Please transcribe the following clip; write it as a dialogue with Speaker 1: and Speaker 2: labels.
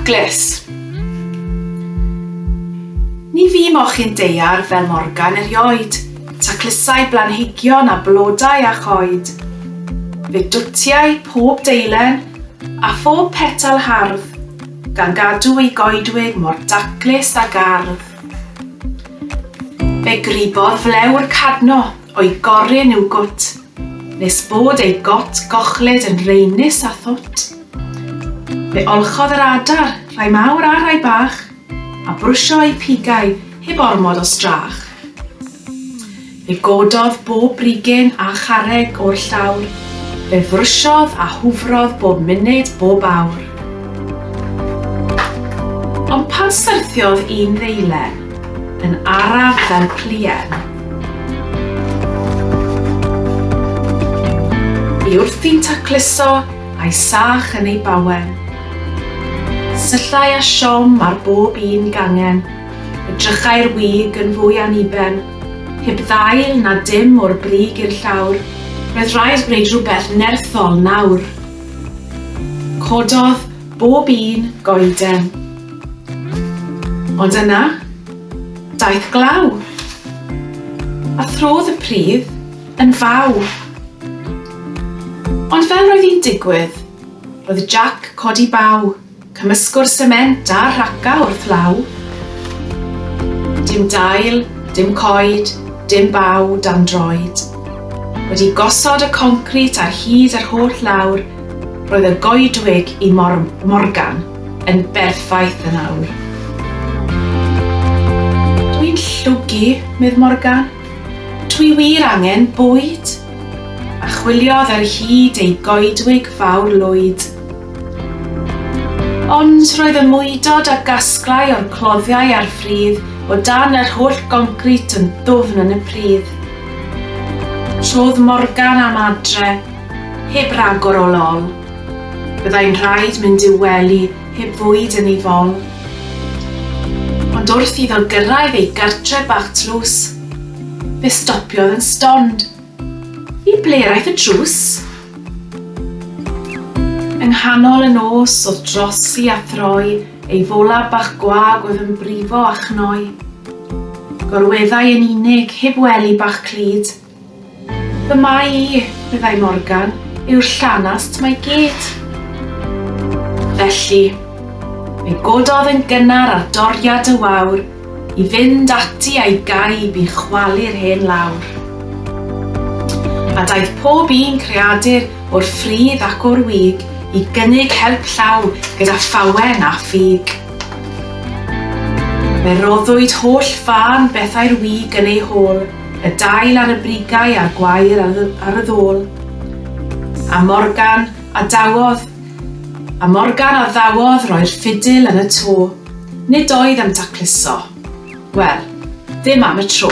Speaker 1: Taclus. Ni fu moch yn deiar fel Morgan erioed, taclusai blanhigion a blodau a choed. Fe dwtiai pob deilen a phob petal hardd, Gan gadw ei goedwig mor daclus ag ardd. Fe gribodd flewr cadno o'i gorun i'w gwt, nes bod ei got gochlyd yn raenus a thwt. Fe olchodd yr adar, rhai mawr a rhai bach, a brwsio eu pigau heb ormod o strach. Fe gododd bob brigyn a charreg o'r llawr, fe frwsiodd a hwfrodd bob munud, bob awr. Ond pan syrthiodd un ddeilen, yn araf fel pluen, i wrthi'n tacluso a'i sach yn ei bawen, syllai â siom ar bob un gangen, edrychai'r wig yn fwy aniben, Heb ddail na dim o'r brig i'r llawr, roedd rhaid gwneud rhywbeth nerthol nawr. Cododd bob un goeden. Ond yna, daeth glaw. A throdd y pridd yn faw. Ond fel roedd hi'n digwydd, roedd Jac codi baw. Cymysgwr sement a rhaca wrth law. Dim dail, dim coed, dim baw dan droed. Wedi gosod y concrit ar hyd yr holl lawr, roedd y goedwig i Mor-, Morgan yn berffaith yn awr. Dw i'n llwgu, medd Morgan. Dw i wir angen bwyd! A chwiliodd ar hyd ei goedwig fawr lwyd. Ond roedd y mwydod a gasglai o'r cloddiau a'r ffridd o dan yr holl goncrit yn ddwfn yn y pridd. Trodd Morgan am adre, heb ragor o lol. Byddai'n rhaid mynd i'w wely heb fwyd yn ei fol. Ond wrth iddo gyrraedd ei gartre bach tlws, fe stopiodd yn stond. I ble yr aeth y drws? Yng nghanol y nos o'dd drosi a throi ei fola bach gwag oedd yn brifo a chnoi. Gorweddai yn unig, heb wely bach clyd. Fy mai i, meddai Morgan, yw'r llanast 'ma i gyd. Felly, fe gododd yn gynnar ar doriad y wawr, I fynd ati a'i gaib i chwalu'r hen lawr. A daeth pob un creadur o'r ffridd ac o'r wig i gynnig help llaw gyda phawen a ffug. Fe roddwyd holl fân bethau'r wig yn ei hôl, y dail ar y brigau a'r gwair ar y ddôl. A Morgan a dawodd, a Morgan a ddawodd roi'r ffidil yn y to. Nid oedd am dacluso. Wel, ddim am y tro.